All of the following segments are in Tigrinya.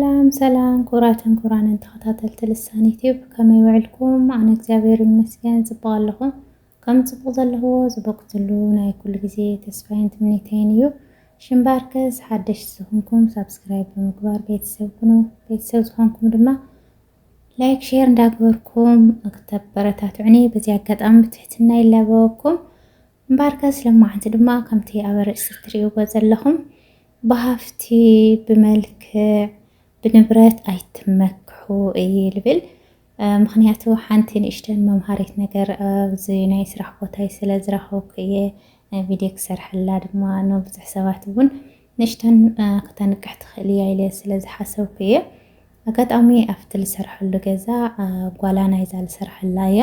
ሰላም ሰላም ኩቡራትን ኩቡራንን ተኸታተልቲ ልሳን ዩቲዩብ ከመይ ውዕልኩም? ኣነ እግዚኣብሔር ይመስገን ጽቡቕ ኣለኹ። ከም ጽቡቕ ዘለኹዎ ዝበኩትሉ ናይ ኩሉ ግዜ ተስፋይን ትምኒተይን እዩ። ሽምባርከስ ሓደሽቲ ዝኾንኩም ሳብስክራይብ ብምግባር ቤተሰብ ኩኑ። ቤተሰብ ዝኾንኩም ድማ ላይክ ሼር እንዳገበርኩም ክተበረታትዑኒ በዚ ኣጋጣሚ ብትሕትና ይላበወኩም። እምበኣርከስ ሎማዕንቲ ድማ ከምቲ ኣብ ኣርእስቲ እትርእይዎ ዘለኹም ብሃፍቲ ብመልክዕ ብንብረት ኣይትመክሑ እየ ልብል። ምኽንያቱ ሓንቲ ንእሽተን መምሃሪት ነገር ኣብዚ ናይ ስራሕ ቦታይ ስለ ዝረኸብኩ እየ ቪድዮ ክሰርሐላ ድማ ንብዙሕ ሰባት እውን ንእሽተን ክተንቅሕ ትኽእል እያ ኢለ ስለ ዝሓሰብኩ እየ። ኣጋጣሚ ኣብቲ ዝሰርሐሉ ገዛ ጓላ ናይዛ ዝሰርሐላ እያ።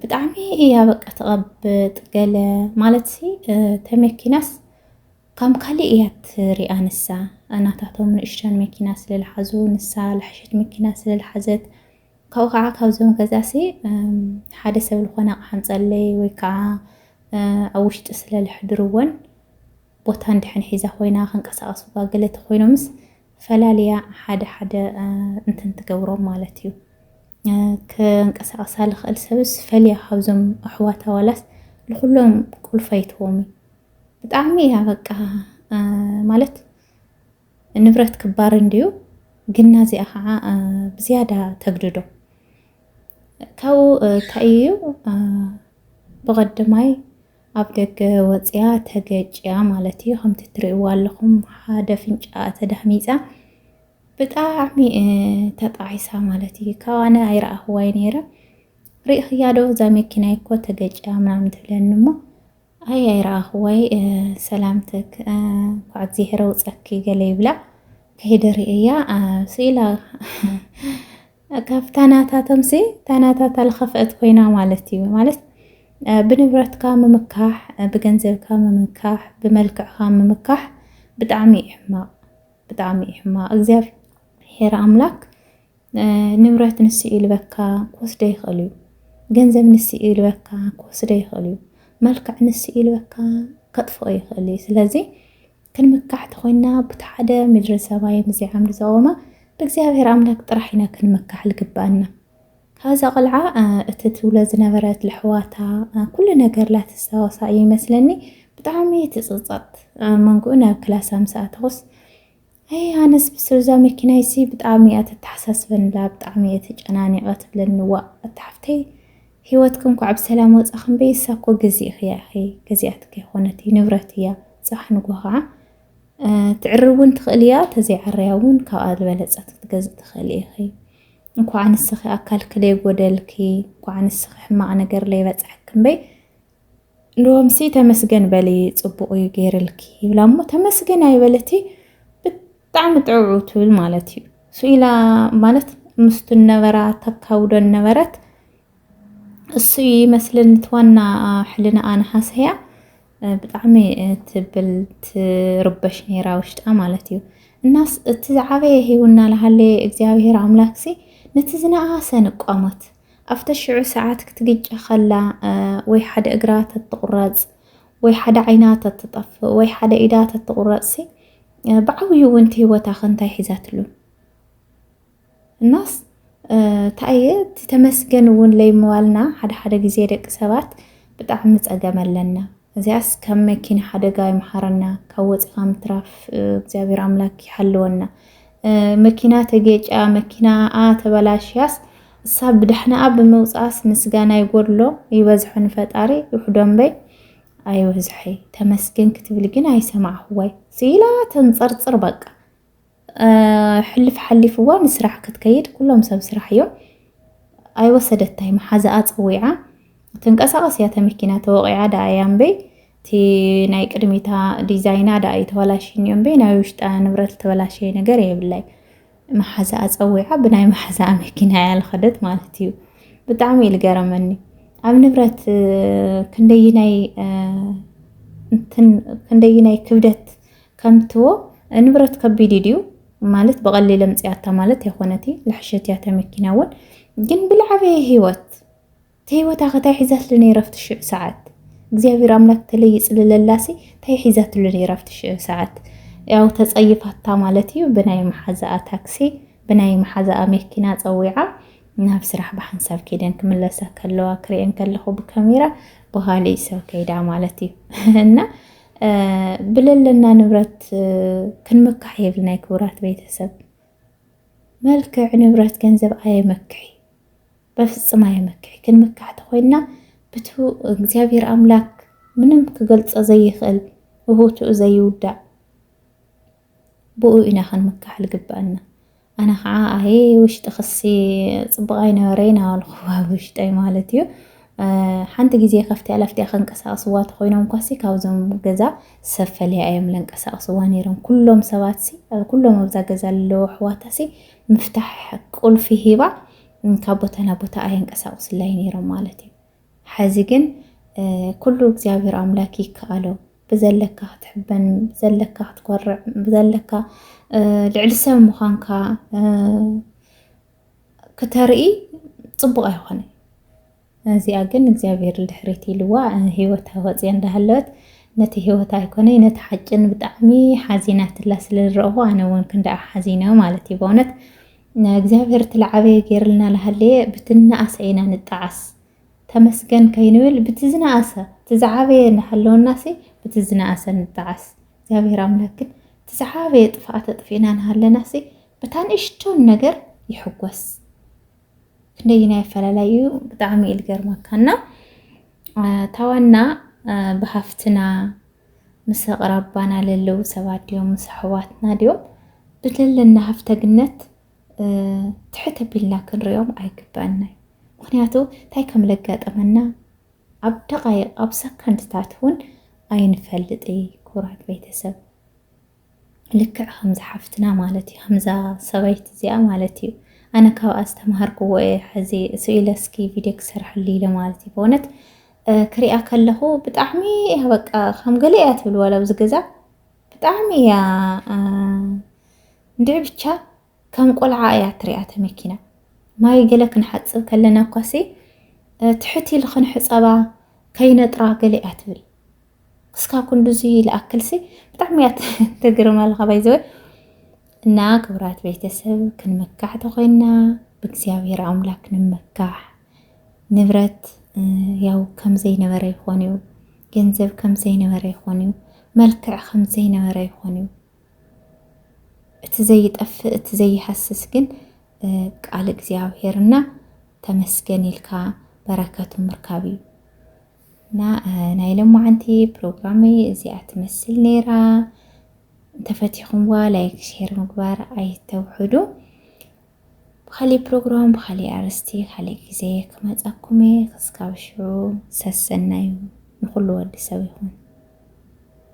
ብጣዕሚ እያ በቃ ተቐብጥ ገለ ማለት ሲ ተመኪናስ ካም ካሊእ እያ ትሪኣ ንሳ እናታቶም ንእሽተን መኪና ስለልሓዙ ንሳ ልሓሸት መኪና ስለልሓዘት ካብኡ ከዓ ካብዞም ገዛ ሲ ሓደ ሰብ ዝኾነ ኣቕሓ ንፀለይ ወይ ከዓ ኣብ ውሽጢ ስለልሕድርወን ቦታ እንድሕን ሒዛ ኮይና ክንቀሳቀሱ ገለ ተኮይኖምስ ፈላልያ ሓደ ሓደ እንትን ትገብሮም ማለት እዩ ክንቀሳቐሳ ልኽእል ሰብስ ፈልያ ካብዞም ኣሕዋታ ዋላስ ንኹሎም ቁልፈይትዎም እዩ ብጣዕሚ እያ በቃ ማለት ንብረት ክባር እንድዩ ግና እዚኣ ከዓ ብዝያዳ ተግድዶ ካብኡ እንታይ እዩ ብቐድማይ ኣብ ደገ ወጽያ ተገጭያ ማለት እዩ ከምቲ ትርእይዋ ኣለኹም ሓደ ኣፍንጫኣ ተዳህሚጻ ብጣዕሚ ተጣዒሳ ማለት እዩ ካብ ኣነ ኣይረኣኽዋይ ነይረ ርኢኽያ ዶ እዛ መኪና እኮ ተገጭያ ምናምን ትብለኒ እሞ ኣይ ኣይረኣኽዋይ ሰላምትክ እንኳዕ እግዚኣብሔር ኣውጸኪ ገለ ይብላ ከይደ ርእያ ስኢላ ካብታ ናታቶምሲ እታ ናታታ ዝኸፍአት ኮይና ማለት እዩ። ማለት ብንብረትካ ምምካሕ፣ ብገንዘብካ ምምካሕ፣ ብመልክዕካ ምምካሕ ብጣዕሚ እዩ ሕማቕ፣ ብጣዕሚ እዩ ሕማቕ። እግዚኣብሔር ኣምላክ ንብረት ንሱ እዩ ልበካ ክወስዶ ይኽእል እዩ። ገንዘብ ንሱ እዩ ልበካ ክወስዶ ይኽእል እዩ። መልክዕ ንሱ እዩ ልበካ ከጥፍኦ ይኽእል እዩ። ስለዚ ክንምካሕ ተኾይንና ቡቲ ሓደ ምድረ ሰማይ ምስዚ ዓምዲ ዘቆመ ብእግዚኣብሔር ኣምላክ ጥራሕ ኢና ክንምካሕ ልግበኣና ካብዛ ቆልዓ እቲ ትብሎ ዝነበረት ልሕዋታ ኩሉ ነገር ላትሳወሳ እዩ ይመስለኒ ብጣዕሚ ትጽጸት መንጉኡ ናብ ክላሳ ምስ ኣተኹስ ኣይ ኣነስ ብስብዛ መኪና ይሲ ብጣዕሚ እያ ተተሓሳስበንላ ብጣዕሚ እየ ተጨናኒቐ ትብለኒ ዋእ ኣታሓፍተይ ሂወትኪ እንኳዕ ብሰላም ወፃኪ እምበይ እሳ እኮ ገዚእኪ እያ ኢኪ ገዚኣትኪ ኣይኮነትይ ንብረት እያ ፅባሕ ንግሆ ከዓ ትዕርብ እውን ትክእል እያ ተዘይዓረያ እውን ካብኣ ዝበለፀት ክትገዝእ ትክእሊ ኢኪ እንኳዕ ንስኪ ኣካልኪ ለይጎደልኪ እንኳዕ ንስኪ ሕማቅ ነገር ለይበፅሐኪ እምበይ ሎምሲ ተመስገን በሊ ፅቡቅ እዩ ገይርልኪ ይብላ እሞ ተመስገን ኣይበለትይ ብጣዕሚ ጥዑዑ ትብል ማለት እዩ ስኢላ ማለት ምስቱ ነበራ ተካውዶን ነበረት እሱ እዩ ይመስልን ትዋና ሕልና ኣንሃሰያ ብጣዕሚ ትብል ትርበሽ ነይራ ውሽጣ ማለት እዩ እናስ እቲ ዝዓበየ ሂውና ልሃለየ እግዚኣብሄር ኣምላክሲ ነቲ ዝነኣሰ ንቋሞት ኣብተ ሽዑ ሰዓት ክትግጨ ከላ ወይ ሓደ እግራ ተትቑረፅ ወይ ሓደ ዓይና ተትጠፍእ ወይ ሓደ ኢዳ ተትቑረጽሲ ብዓብዩ እውን እቲ ህይወታ ከ እንታይ ሒዛትሉ እናስ እንታይ እየ እቲ ተመስገን እውን ለይምባልና ሓደ ሓደ ግዜ ደቂ ሰባት ብጣዕሚ ጸገም ኣለና እዚኣስ ካብ መኪና ሓደጋ ይምሓረና ካብ ወፂኻ ምትራፍ እግዚኣብሔር ኣምላክ ይሓልወና መኪና ተጌጫ መኪናኣ ተበላሽያስ እሳ ብዳሕናኣ ብምውጻኣስ ምስጋና ይጎድሎ ይበዝሖ ንፈጣሪ ውሕዶ እምበይ ኣይብዝሖይ ተመስገን ክትብል ግን ኣይሰማዕኹዋይ ስኢላ ተንጸርጽር በቃ ሕልፍ ሓሊፍዋ ንስራሕ ክትከይድ ኩሎም ሰብ ስራሕ እዮም ኣይወሰደታይ መሓዛኣ ፀዊዓ ትንቀሳቐስ እያ ተመኪና ተወቂዓ ደኣ እያ እምበይ እቲ ናይ ቅድሚታ ዲዛይና ደኣ እዩ ተበላሽዩ እምበይ ናይ ውሽጣ ንብረት ዝተበላሸየ ነገር የብላይ መሓዛኣ ጸዊዓ ብናይ መሓዛኣ መኪና እያ ዝኸደት ማለት እዩ። ብጣዕሚ እዩ ዝገረመኒ ኣብ ንብረት ክንደይናይ ክንደይናይ ክብደት ከምትዎ ንብረት ከቢድ ድዩ ማለት ብቐሊል ኣምፅኣታ ማለት ኣይኮነቲ ልሕሸት እያ ተመኪና እውን ግን ብልዓበየ ህይወት ተህይወታ ከ ታይ ሒዛትሉ ነይራ ኣብቲ ሽዑ ሰዓት እግዚኣብሔር ኣምላክ ተለይ ይፅልለላሲ ታይ ሒዛትሉ ነይራ ኣብቲ ሽዑ ሰዓት ያው ተፀይፋታ ማለት እዩ ብናይ መሓዛኣ ታክሲ ብናይ መሓዛኣ መኪና ፀዊዓ ናብ ስራሕ ብሓንሳብ ከይደን ክምለሳ ከለዋ ክሪኤን ከለኩ ብካሜራ ብካሊእ ሰብ ከይዳ ማለት እዩ እና ብለለና ንብረት ክንምካሕ የብልና ክቡራት ቤተሰብ። መልክዕ ንብረት ገንዘብ ኣየመክሕ በፍጽም ኣየመክሕ ግን መካሕቲ ኮይና ብቱ እግዚኣብሔር ኣምላክ ምንም ክገልጸ ዘይኽእል ብቦትኡ ዘይውዳእ ብኡ ኢና ክንምካሕ ልግበኣና ኣነ ከዓ ኣየ ውሽጢ ክሲ ፅቡቅ ኣይነበረይ ናበልኩዋ ውሽጠይ ማለት እዩ ሓንቲ ግዜ ከፍትያ ለፍትያ ከንቀሳቅስዋ ተኮይኖም ኳሲ ካብዞም ገዛ ሰብ ፈልያ እዮም ለንቀሳቅስዋ ነይሮም ኩሎም ሰባትሲ ኩሎም ኣብዛ ገዛ ኣለዉ ኣሕዋታሲ ምፍታሕ ቁልፊ ሂባ ካብ ቦታ ናብ ቦታ ኣየንቀሳቕስላይ ነይሮም ማለት እዩ ሐዚ ግን ኩሉ እግዚኣብሔር ኣምላክ ይከኣሎ ብዘለካ ክትሕበን ብዘለካ ክትኮርዕ ብዘለካ ልዕሊ ሰብ ምዃንካ ክተርኢ ፅቡቕ ኣይኾነን እዚኣ ግን እግዚኣብሔር ንድሕሪት ኢልዋ ሂወታ ወፅያ እንዳሃለወት ነቲ ሂወታ ኣይኮነይ ነቲ ሓጭን ብጣዕሚ ሓዚናትላ ስለዝረእኹ ኣነ እውን ክንደኣ ሓዚነ ማለት እዩ በእውነት እግዚኣብሔር ትልዓበየ ገይርልና ልሃለየ ብትናኣሰ ኢና ንጣዓስ ተመስገን ከይንብል ብቲ ዝነኣሰ እቲ ዝዓበየ እናሃለወናሲ ብቲ ዝነኣሰ ንጣዓስ እግዚኣብሔር ኣምላክ ግን እቲ ዝዓበየ ጥፍኣት ኣጥፊእና ንሃለናሲ ብታ ንእሽቶን ነገር ይሕጎስ ክንደይና ኣፈላላይ እዩ ብጣዕሚ እዩ ዝገርመካ እና ታዋና ብሃፍትና ምስ ኣቕራባና ለለዉ ሰባት ድዮም ምስ ኣሕዋትና ድዮም ብዘለና ሃፍተግነት ትሕት ኣቢልና ክንሪኦም ኣይግባእና እዩ ምክንያቱ እንታይ ከም ዘጋጠመና ኣብ ደቃይቅ ኣብ ሰከንድታት እውን ኣይንፈልጥ እዩ ክቡራት ቤተሰብ ልክዕ ከምዛ ሓፍትና ማለት እዩ ከምዛ ሰበይቲ እዚኣ ማለት እዩ ኣነ ካብኣ ዝተምሃርክዎ እየ ሕዚ ስኢለ እስኪ ቪድዮ ክሰርሐሉ ኢለ ማለት እዩ በእውነት ክሪኣ ከለኹ ብጣዕሚ እያ በቃ ከም ገለ እያ ትብል ዋላ ኣብዚ ገዛ ብጣዕሚ እያ እንድዒ ብቻ ከም ቆልዓ እያ ትሪኣ እታ መኪና። ማይ ገለ ክንሓጽብ ከለና እኳሲ ትሕት ኢልኽን ሕጸባ ከይነጥራ ገለ እያ ትብል። ክስካ ኩንዱዚ ልኣክልሲ ብጣዕሚ እያ ተግርመልኻ ባይዘወ እና ክብራት ቤተሰብ ክንመካሕ ተኮይና ብእግዚኣብሔር ኣምላክ ንመካሕ ንብረት ያው ከም ዘይነበረ ይኾን እዩ ገንዘብ ከም ዘይነበረ ይኾን እዩ መልክዕ ከም ዘይነበረ ይኾን እዩ እቲ ዘይጠፍእ እቲ ዘይሃስስ ግን ቃል እግዚኣብሔር እና ተመስገን ኢልካ በረከቱ ምርካብ እዩ እና ናይ ሎማዓንቲ ፕሮግራመይ እዚኣ ትመስል ነይራ እንተፈቲኹምዋ ላይክ ሼር ምግባር ኣይተውሕዱ ብካሊእ ፕሮግራም ብካሊእ ኣርስቲ ካሊእ ግዜ ክመፃኩም እየ ክስካብ ሽዑ ሰሰናዩ ንኩሉ ወዲ ሰብ ይኹን